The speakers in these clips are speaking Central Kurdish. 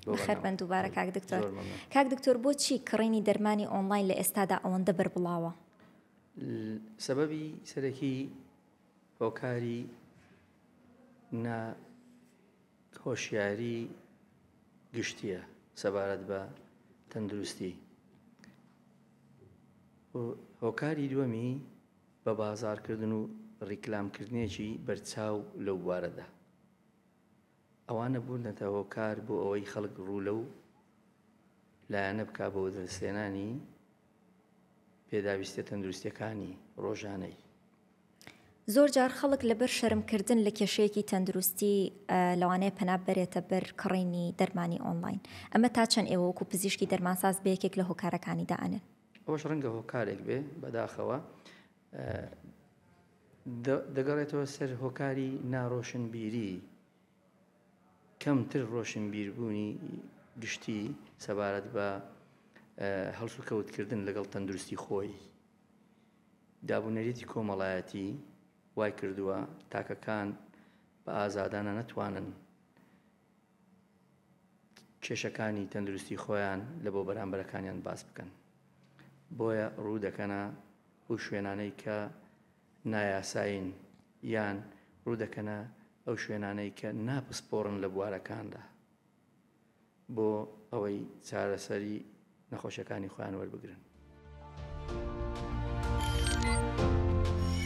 بەخێر بن دووبارە کاک دکتۆر کاک دکتۆر بۆچی کڕینی دەرمانی ئۆنلاین لە ئێستادا ئەوەندە بەربڵاوە سەبەبی سەرەکی هۆکاری نا هۆشیاری گشتیە سەبارەت بە تەندروستی هۆکاری دووەمی بە بازارکردن و ڕیکلامکردنێکی بەرچاو لەو بوارەدا ئەوانە بوونەتە هۆکار بۆ ئەوەی خەڵک ڕوو لەو لایەنە بکا بۆ وەدەستهێنانی پێداویستیە تەندروستیەکانی ڕۆژانەی. زۆر جار خەڵک لەبەر شەرم کردن لە کێشەیەکی تەندروستی لەوانەیە پەنا ببەرێتە بەر کڕینی دەرمانی ئۆنڵاین، ئەمە تا چەند ئێوە وەکو پزیشکی دەرمانساز بە یەکێک لە هۆکارەکانی دائەنێن؟ ئەوەش ڕەنگە هۆکارێک بێ بەداخەوە. دەگەڕێتەوە سەر هۆکاری ناڕۆشنبیری، کەمتر ڕۆشنبیربوونی گشتی سەبارەت بە هەڵسوکەوتکردن لەگەڵ تەندروستی خۆی. دابونەریتی کۆمەڵایەتی وایکردووە تاکەکان بە ئازادانە نەتوانن کێشەکانی تەندروستی خۆیان لە بۆ بەرامبەرەکانیان باس بکەن، بۆیە ڕوو دەکەنە ئەو شوێنانەی کە نایاسایین یان ڕوودەکەنە ئەو شوێنانەی کە ناپسپۆڕن لە بوارەکاندا بۆ ئەوەی چارەسەری نەخۆشەکانی خۆیان وەربگرن.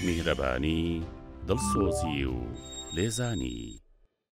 میهرەبانی، دڵسۆزی و لێزانی.